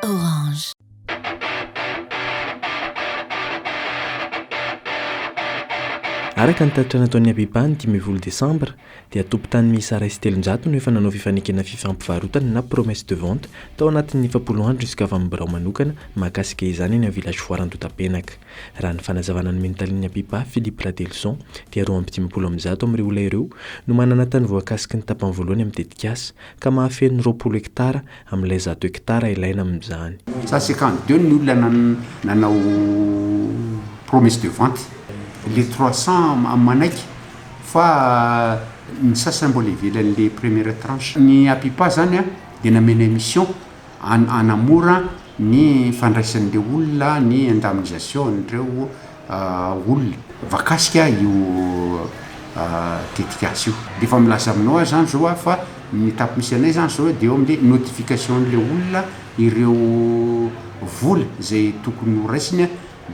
Orange. Araka ny tatitra nataon'ny ABEPA ny dimy ambin'ny folo Desambra, dia tompon-tany miisa iray sy telonjato no efa nanao fifanekena fifampivarotana na promesse de vente tao anatin'ny efapolo andro nizoka avy amin'ny birao manokana mahakasika izany eny amin'ny Village Foire Andotapenaka. Raha ny fanazavana nomen'ny talen'ny ABEPA, Philippe Radelison, dia roa amby dimampolo amin'ny zato amin'ireo olona ireo no manana tany voakasiky ny tapany voalohany amin'ny tetikasa, Ka mahafeno ny roapolo hektara amin'ilay zato hektara ilaina amin'izany. Ça c'est quand deux ny olona nanao promesse de vente, le trois cents am manaiky fa ny sasany mbola ivelan'le première tranche. Ny APIPA zany dia namena mission. hanamora ny fandraisan'ireo olona ny indemnisation an'ireo olona voakasika io tetikasa io. Dia efa milaza aminao aho izany izao aho fa ny étape misy anay izany izao dia eo amin'ilay notification an'ilay olona ireo vola izay tokony horaisiny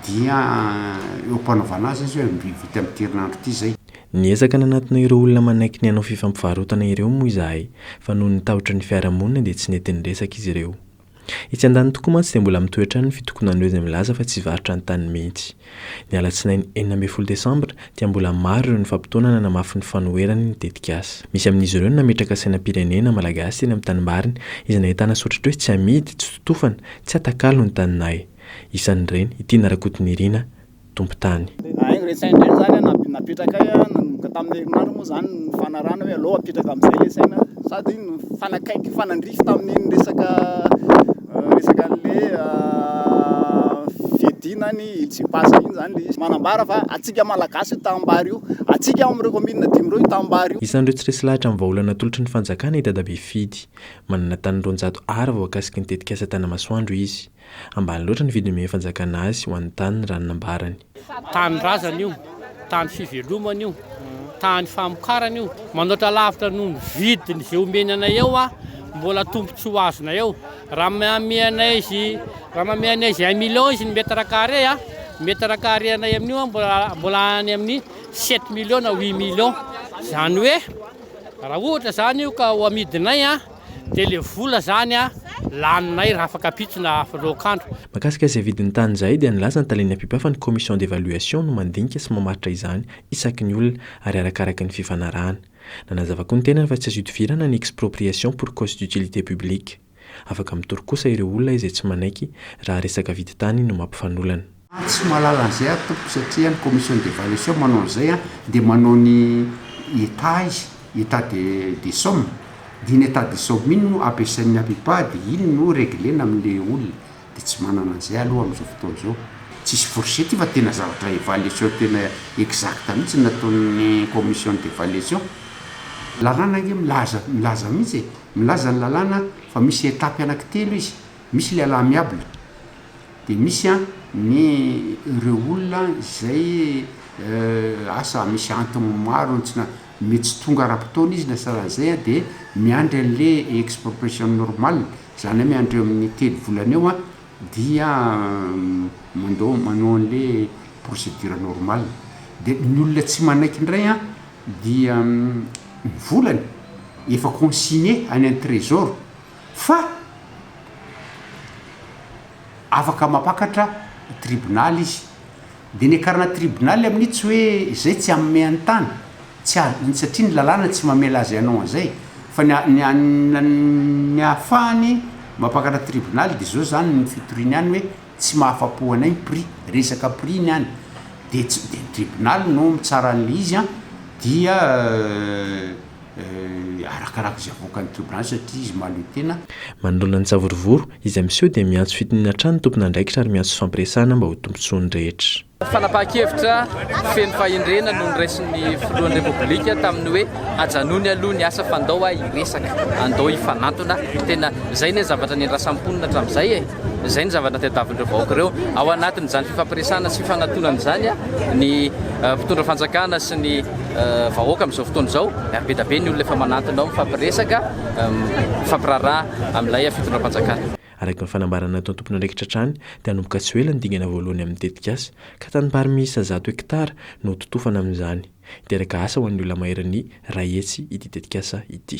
dia eo am-panaovana azy izy hoe vita amin'ity herinandro ity izay. Niezaka nanatona ireo olona manaiky ny hanao fifampivarotana ireo moa izahay fa noho ny tahotra ny fiarahamonina dia tsy nety niresaka izy ireo. Etsy andaniny tokoa mantsy dia mbola mitohy hatrany ny fitokonan'ireo izay milaza fa tsy varotra ny taniny mihitsy. Ny alatsinainy enina ambin'ny folo desambra dia mbola maro ireo nifampitaona nanamafy ny fanoherany ny tetikasa. Misy amin'izy ireo no nametraka sainam-pirenena malagasy teny amin'ny tanimbariny izay nahitana soritry hoe tsy amidy, tsy totofana, tsy atakalo ny taninay. Isan'ireny i Tiana Rakotonirina, tompon-tany. Haingo re saina indray zany an napetrakay an, nanomboka tamin'ny herinandro moa zany ny fanarahana hoe aleo apetraka amin'izay le saina sady nifanakaiky nifanandrify tamin'iny resaka resaka an'le fiadiana ny ILCPAS iny zany le izy, manambara fa antsika malagasy io tanimbary io, antsika ao amin'ireo kaominina dimy ireo io tanimbary io. Isan'ireo tsy resy lahatra amin'ny vahaolana atolotry ny fanjakana i Dadabe Fidy. Manana tany roanjato Ar voakasiky ny tetikasa Tanamasoandro izy. Ambany loatra ny vidiny omen'ny fanjakana azy ho an'ny taniny raha ny nambarany. Tanindrazana io, tany fivelomana io, tany famokarana io. Manoatra lavitra noho ny vidiny izay omeny anay eo aho, mbola tombontsoa azonay eo. Raha manome anay izy, raha manome anay izy un million izy ny mètre carré, mètre carré anay amin'io an, mbola, mbola any amin'ny sept millions na huit millions. Izany hoe, raha ohatra izany io ka ho amidinay an. dia ilay vola izany laninay raha afaka ampitso na aflokandro. Mahakasika izay vidin'ny tany izay dia nilaza ny talen'ny APIPA fa ny commission d'évaluation no mandinika sy mamaritra izany isaky ny olona ary arakaraky ny fifanarahana. Nanazava koa ny tenany fa tsy azo idivirana ny expropriation pour cause d'utilité publique. Afaka mitory kosa ireo olona izay tsy manaiky raha resaka vidin-tany no mampifanolana. Tsy mahalala an'izay aho tompoko satria ny commission d'evaluation manao an'izay an, dia manao ny état izy, état de des sommes, dia iny état des sommes iny no ampiasain'ny APIPA dia iny no reglena amin'ilay olona, dia tsy manana an'izay aho aloha amin'izao fotoana izao, tsisy fourchette io fa tena zavatra évaluation tena exacte mihintsy no nataon'ny commission d'evaluation, lalàna ange milaza milaza mihintsy e, milaza ny lalàna fa misy étape anaky telo izy, misy ilay à l'amiable. Dia misy an, ny ireo olona izay asa misy antony maro tsy na, mety tsy tonga ara-potoana izy na sahala an'izay an, dia miandry an'ilay expropriation normale, izany hoe miandry eo amin'ny telo volana eo an, dia mandao, manao an'ilay procédure normale. Dia ny olona tsy manaiky indray an, dia ny volany efa consigné any amin'ny trésor, Fa afaka mampakatra tribonaly izy. Dia niakarana tribonaly amin'io tsy hoe izay tsy hanome an'i tany, tsy azo, satria ny lalàna tsy mamela azy hanao an'izay. Fa ny ny ny hahafahany mampakatra tribonaly dia izao izany ny fitoriany any hoe tsy mahafa-po anay ny prix, resaka prix ny any. Dia tsy, dia ny tribonaly no mitsara an'ilay izy an, dia. arakaraka izay avoakan'ny trioblany satria izy mahaleo tena. Manoloana ny savorovoro izay miseho dia miantso fitoniana hatrany ny tompon'andraikitra ary miantso fifampiresahana mba ho tombontsoan'ny rehetra. Fanapahan-kevitra feno fahendrena no noraisin'ny filohan'ny Repoblika tamin'ny hoe ajanony aloha ny asa fa andao aho hiresaka, andao hifanantona, tena izay ny zavatra niandrasam-ponina hatramin'izay e! Izay ny zavatra tadiavin'ireo vahoaka ireo. Ao anatin'izany fifampiresahana sy fifanatonana izany ny mpitondra fanjakana sy ny vahoaka amin'izao fotoana izao. Be dia be ny olona efa manantona ao mifampiresaka, mifampiraharaha amin'ilay fitondram-panjakana. Araka ny fanambarana nataon'ny tompon'andraikitra hatrany dia hanomboka tsy ho ela ny dingana voalohany amin'ny tetikasa, ka tanimbary miisa zato hekitara no hototofana amin'izany. Hiteraka asa ho an'ny olona maherin'ny iray hetsy ity tetikasa ity.